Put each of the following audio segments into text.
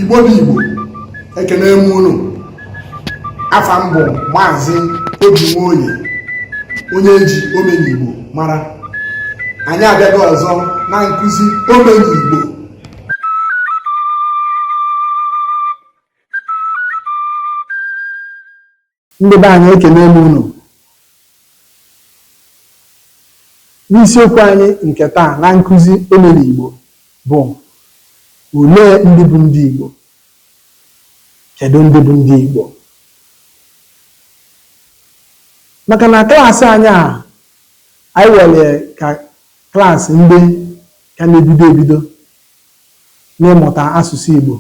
igbo bụ igbo ekene m unu afa m bụ maazị obi nwoye onye e ji omenigbo mara anyị abịago ọzọ na nkụzi omenigbo ndị be anyị ekene m unu n'isiokwu anyị nke taa na nkụzi omenigbo bụ olee ndị bụ ndị igbo kedu ndị bụ ndị igbo maka na klaasị anyị a anyị were ka Klaasị ndị ka na-ebido ebido n'ịmụta asụsụ Igbo,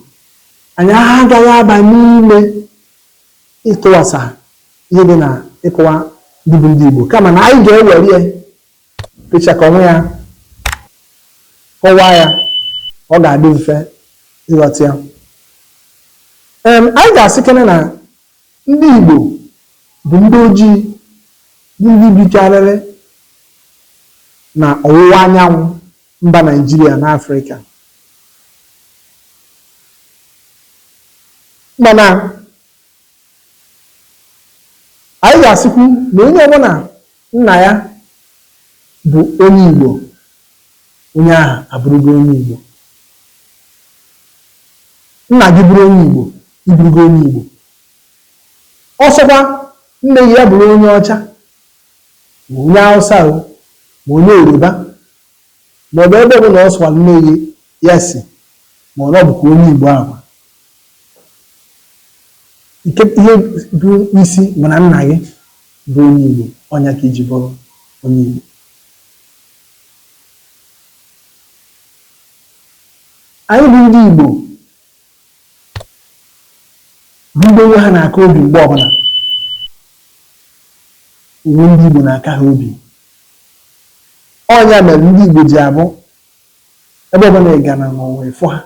anyị agaghị aba n'ime ịkọwasa ihe dị na ịkọwa ndị bụ ndị Igbo kama na anyị ga-ewere ya pịchakọ onwe ya kọwaa ya ọ ga-adị mfe ịghọta ya. Em, anyị ga-asịkene na Ndị Igbo bụ ndị ojii bụ ndị bikarịrị na ọwụwa anyanwụ mba Naijiria na Afrịka. Mana anyị ga-asịkwu na onye ọbụla Nna ya bụ onye Igbo, onye ahụ abụrụgo onye Igbo. Nna gị bụrụ onye Igbo, ị bụrụgo onye Igbo. Ọ sọkwa nne gị ya bụrụ onye ọcha, ma onye Hausa o, ma onye Yoruba, maọbụ ebe ọbụla ọ sọkwa nne gị ya si ma ọ bụkwa onye Igbo ahụ nke ihe bụ isi bụ na nna gị bụ onye Igbo ọ nya ka i ji bụrụ onye Igbo anyị bụ ndị Igbo bụ ndị onwe ha na-aka obi mgbe ọbụla onwe ndị Igbo na-aka ha obi Ọ nya mere ndị Igbo ji abụ ebe ọbụla ị gara n'ụwa ị fụ ha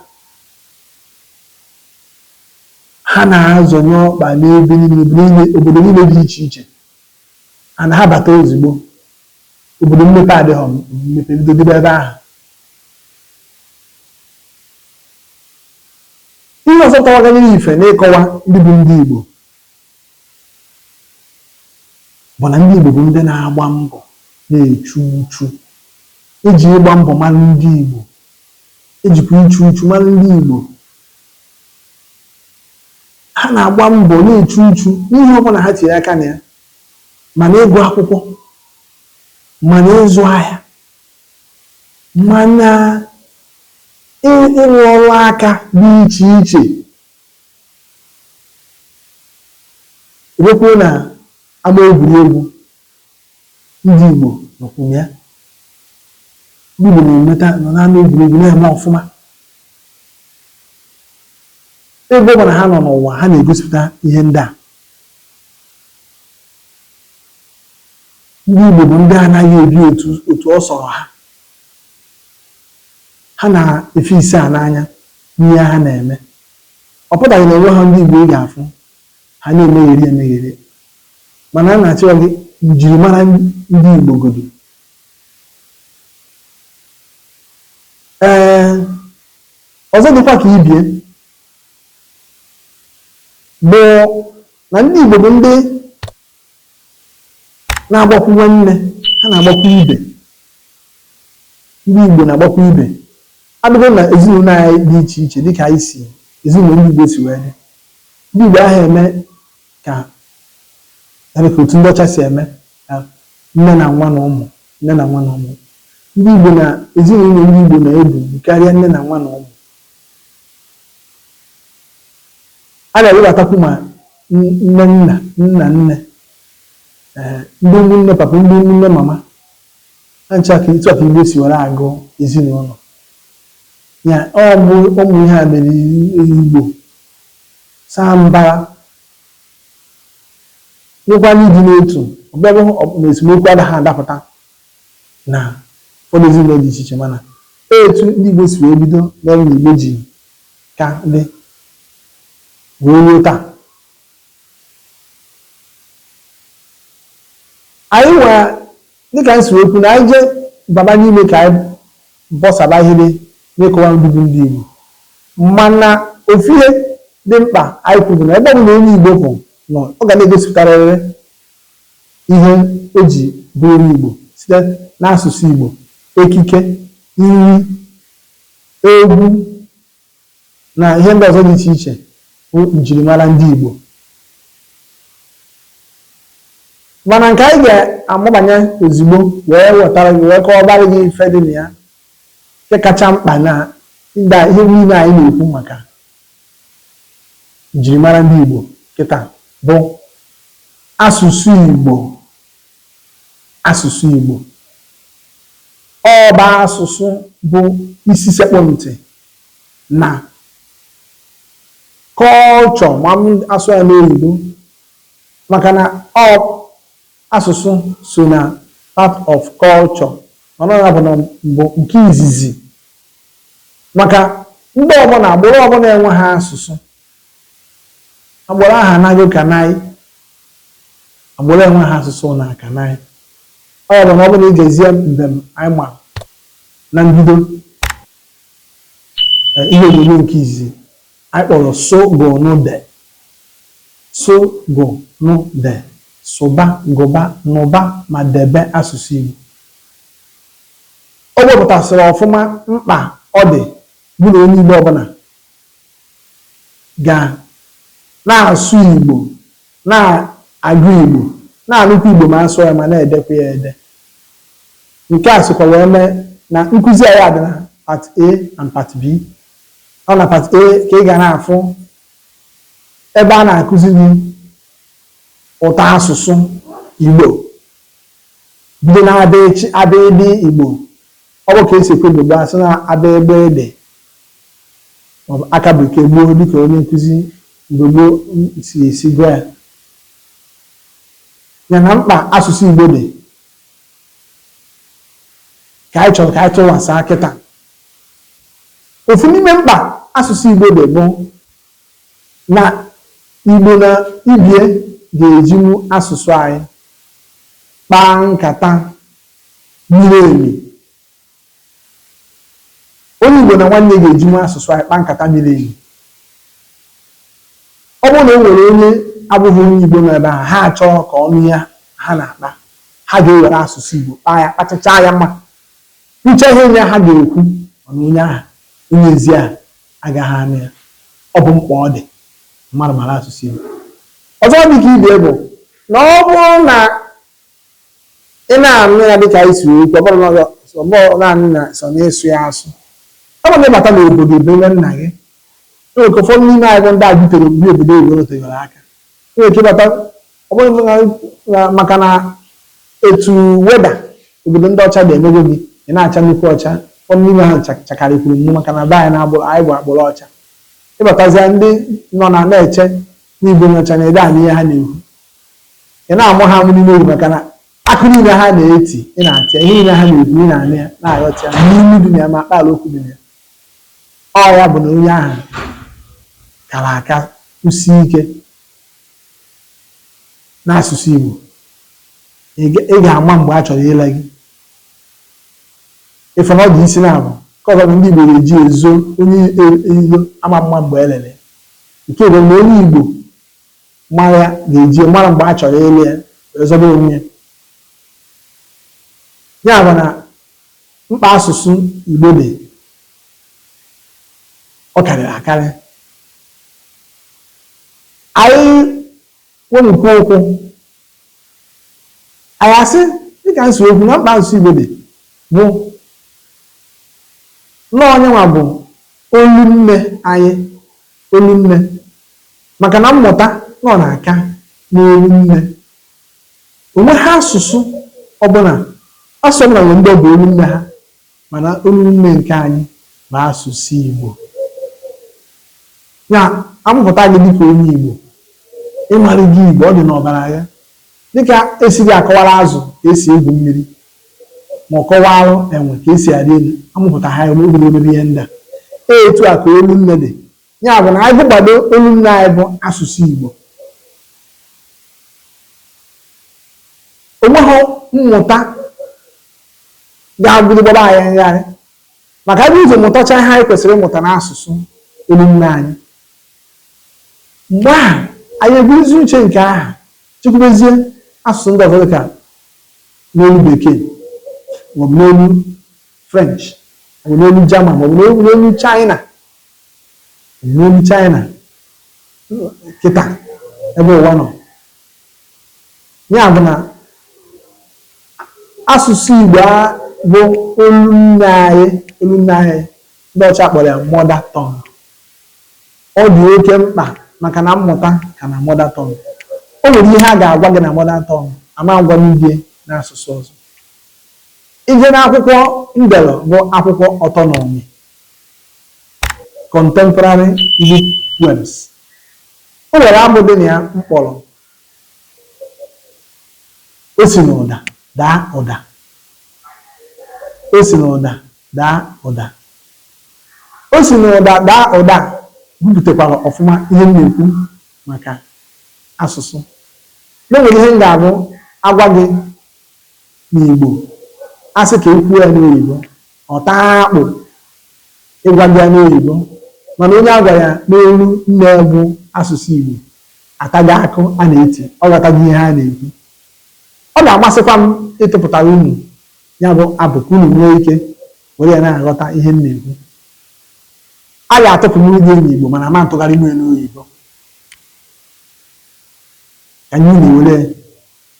ha na-azọnye ọkpa n'ebe niile obodo niile dị iche iche ha na ha bata ozugbo obodo mmepe adịghị mmepe ebido dịba ebe ahụ ihe ọzọ tọwaganyere ife n'ịkọwa ndị bụ ndị Igbo bụ na ndị Igbo bụ ndị na-agba mbọ na-echu uchu e ji ịgba mbọ mara ndị Igbo e jikwu ichu uchu mara ndị Igbo ha na-agba mbọ na-echu uchu n'ihe ọbụla ha tinye aka na ya ma na ịgụ akwụkwọ ma na ịzụ ahịa ma na ịlụ ọlụ aka dị iche iche A bịakwuo na ama egwuregwu ndị Igbo nọkwu na ya. Ndị Igbo na-emeta nọ n'ama egwuregwu na-eme ọfụma. Ebe ọbụla ha nọ n'ụwa, ha na-egosipụta ihe ndị a. Ndị Igbo bụ ndị anaghị ebi otu ọ sọrọ ha. Ha na-efi isaa n'anya. n'ihe ha na-eme. Ọ pụtaghị na o nweghị ndị Igbo ị ga-afụ ha na-emegheri emegheri, mana a na-achọ gị njirimara ndị Igbo godu. Ee, ọzọ dịkwa ka ibie bụ na ndị Igbo bụ ndị na-agbakwu nwanne ha na-agbakwu ibe ndị Igbo na-agbakwu ibe abụgo na ezinụlọ anyị dị iche iche dịka anyị si ezinụlọ ndị Igbo si wee dị ndị Igbo anaghị eme ka dịka otu ndị ọcha si eme ka nne na nwa na ụmụ nne na nwa na ụmụ ndị Igbo na ezinụlọ ndị Igbo na-ebu karịa nne na nwa na ụmụ A na-ewebatakwu ma nne nna, nna nne, ee ndị ụmụnne papa, ndị ụmụnne mama. Ha ncha ka etu a ka Igbo si were agụ ezinụlọ. Ya ọ bụ ụmụ ihe a mere Igbo saa mbara nọkwa n'ịdị n'otu. Ọ bụghị na esemokwu adaghị adapụta na ụfọdụ ezinụlọ dị iche iche mana etu ndị Igbo si wee bido mere na Igbo ji ka dị wee ruo taa anyị nwa dịka m si wee kwu na anyị jee baba n'ime ka anyị bọsaba ihe dị n'ịkọwa ndị bụ ndị Igbo mana ofu ihe dị mkpa anyị kwuru na ebe ọ bụla onye Igbo bụ nọ ọ ga na-egosipụtarịrị ihe o ji bụrụ Igbo site n'asụsụ Igbo, ekike, nri, egwu na ihe ndị ọzọ dị iche iche bụ njirimara ndị Igbo. Mana nke anyị ga-amabanye ozugbo wee wetara gị wee kọwabara gị ife dị na ya nke kacha mkpa na ndị a ihe niile anyị na-ekwu maka Njirimara ndị Igbo kịta bụ asụsụ Igbo asụsụ Igbo ọ bụ asụsụ bụ isi sekpụ ntị na culture ma m asụọ ya n'oyibo maka na ọ Asụsụ so na part of culture mana ọ ya bụ na mbụ nke izizi maka mba ọbụla agbụrụ ọbụla enweghị asụsụ agbụrụ ahụ anaghị kanaị agbụrụ enweghị asụsụ na akanaị ọ ya bụ na ọ bụrụ na ị gezie mbem anyị ma na mbido eh, ihe onyonyo nke izizi Anyị kpọrọ sụ gụ nụ de, sụ gụ nụ de, sụba, gụba, nụba ma debe asụsụ Igbo. O wepụtasịrị ọfụma mkpa ọ dị bụ na onye Igbo ọbụla ga na-asụ Igbo, na-agụ Igbo, na-anụkwa Igbo ma a sụọ ya ma na-edekwa ya ede. Nke a sokwa wee mee na nkụzi anyị a dị na Part A and Part B. ọ na part A ka ị ga na-afụ ebe a na-akụzi gị ụtọ asụsụ Igbo bido na A B CH abidii Igbo ọ bụ ka e si ekwu Igbo gboo sị na A B GB D maọbụ aka bụ nke gboo dịka onye nkụzi Igbo gboo si esi gwa ya ya na mkpa asụsụ Igbo dị ka anyị chọrọ ka anyị tụwasa kịta Ofu n'ime mkpa asụsụ Igbo dị bụ na Igbo na ibe ya ga-ejinwu asụsụ anyị kpaa nkata miri emi. Onye Igbo na nwanne ya ga-ejinwu asụsụ anyị kpaa nkata miri emi. Ọ bụrụ na o nwere onye abụghị onye Igbo nọ ebe ahụ, ha achọghị ka ọ nụ ihe ha na-akpa, ha ga-ewere asụsụ Igbo kpaa ya, kpachachaa ya ma. Kwuchaa ihe onye ahụ ga-ekwu mana onye ahụ onye ezi ahụ agaghị anụ ya. Ọ bụ mkpa ọ dị mmadụ mara asụsụ Igbo. Ọzọ dị ka ibe bụ na ọ bụrụ na ị na-anụ ya dịka anyị si wee kwuo, ọ bụrụ na ọ bụrụ naanị na sọ na ịsụ ya asụ, ọ bụrụ na ịbata n'obodo ebe nne nna gị, e nwere ike ụfọdụ n'ime anyị bụ ndị a butere obodo obodo oyibo nọtegoro aka. E nwere ike ịbata Ọ bụrụ na na maka na etu weather obodo ndị ọcha dị emego gị ị na-acha nnukwu ọcha ụfọdụ n'ime ha ncha- chakarịkwuru m maka na be anyị n'agbụrụ anyị bụ agbụrụ ọcha ị batazịa ndị nọ na na-eche na ị bụ onye ọcha na ị dị anụ ihe ha na-ekwu ị na-amụ ha amụ n'ime obi maka na akụ niile ha na-eti ị na-ata ya ihe niile ha na-ekwu ị na-anụ ya na-aghọta ya ma n'ilu dị na ya ma akpaala okwu dị na ya ọ ya bụ na onye ahụ kara aka kwụsie ike n'asụsụ Igbo ị ga ị ga-ama mgbe a chọrọ ile gị ị fụ na ọ dị isi na-abụ nke ọzọ bụ ndị Igbo ga-eji ezo onye eyigo ama mma mgbe e lele nke bụ na onye Igbo mara ya ga-eji mara mgbe a chọrọ ile ya wee zọba onwe ya ya bụ na mkpa asụsụ Igbo dị, ọ karịrị akarị. Anyị nwee nnukwu okwu, anyị asị dịka n'isi okwu na mkpa asụsụ Igbo dị bụ na ọ ya nwa bụ olu nne anyị olu nne maka na mmụta na ọ na-aka n'olu nne O nweghị asụsụ ọbụla, asụsụ ọbụla nwere ndị ọ bụ olu nne ha, mana olu nne nke anyị bụ asụsụ Igbo. Ya a mụpụta gị dịka onye Igbo, ị marago Igbo, ọ dị n'ọbara gị. Dịka e si adị akọwara azụ ka esi egwu mmiri, ma ọ kọwalụ enwe ka esi arị elu, a mụpụta ha ya, o bidoro mebe ihe ndị a. Etu a ka olu nne dị. Ya bụ na anyị gụgbado olu nne anyị bụ asụsụ Igbo onweghị mmụta ga-abụrụ gbaba anyị ngharị maka e bu ụzọ mụtacha ihe anyị kwesịrị ịmụta n'asụsụ olu nne anyị mgbe ahụ anyị eburuzi uche nke aha chekwubezie asụsụ ndị ọzọ dịka n'olu bekee maọbụ n'olu french maọbụ n'olu german maọbụ n'olu china N'ime China kịta ebe ụwa nọ ya bụ na asụsụ Igbo a bụ olu nne anyị olu nne anyị ndị ọcha kpọrọ ya mother tongue ọ dị oke mkpa maka na mmụta ka na mother tongue o nwere ihe a ga-agwa gị na mother tongue a ma agwanwu gị ya n'asụsụ ọzọ ị jee n'akwụkwọ m dere bụ akwụkwọ ọtọnọmi Contemporary Igbo Poems. O nwere abụ dị na ya m kpọrọ O si n'ụda daa ụda. O si n'ụda daa ụda. O si n'ụda daa ụda bupụtakwara ọfụma ihe m na-ekwu maka asụsụ. Na o nwere ihe m ga-abụ agwa gị n'Igbo, a sị ka e kwuo ya n'oyibo, Ọ taa akpụ ịgwa gị ya n'oyibo mana onye a gwara ya n'olu nne bụ asụsụ Igbo atago akụ a na-eti, ọ ghọtago ihe a na-ekwu. Ọ ga-amasịkwa m ịtụpụtara unu ya bụ abụ ka unu nwee ike were ya na-aghọta ihe m na-ekwu. A ga-atụpụnwuru gị ya n'Igbo mana a ma ntụgharịnwu ya n'oyibo ka anyị na-ewere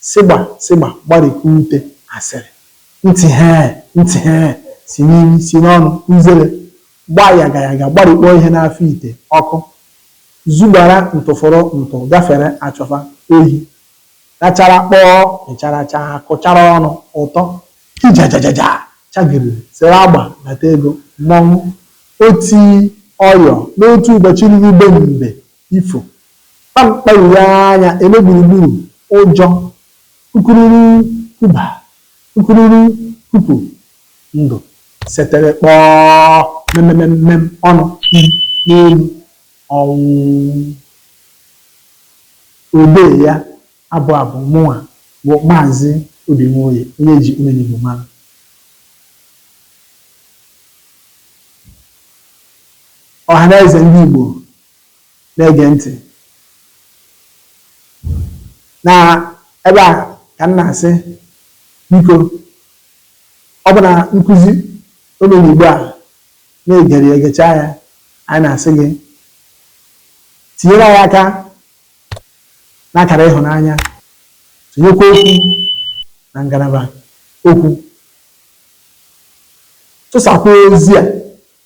Sịgba, sịgba, gbarikwa ute, asịrị, ntị hee, ntị hee, si n'imi, si n'ọnụ, uzere, gbaa yaga yaga, gbarikpọọ ihe n'afọ ite, ọkụ, zugbara ntụfụrụ ntụ, gafere, achọfa, oyi, rachara, kpọọ, mịchara, chaa, kụchara ọnụ, ụtọ, kijajajaja, chagiriri, sere agba, nata ego, mmọnwụ, oti, ọyọ, n'otu ụbọchị ruru be mbe. ifo, kpa mkpa ure anya eme gburugburu, ụjọ, kukururu kuba, kukururu kupu, ndụ, setere kpọọ, memememmem, ọnụ, i, n'elu, ọnwụ. Odee abụ a bụ mụnwa bụ Maazị Obi Nwoye, onye e ji Omenigbo mara. Ọhanaeze ndị Igbo na-ege ntị n'ebe a ka m na-asị biko ọ bụ na nkụzi Omenigbo a na-egere ya e gechaa ya anyị na-asị gị tinyere anyị aka n'akara ịhụnanya tinyekwuo okwu na ngalaba okwu tụsakwuo ozi a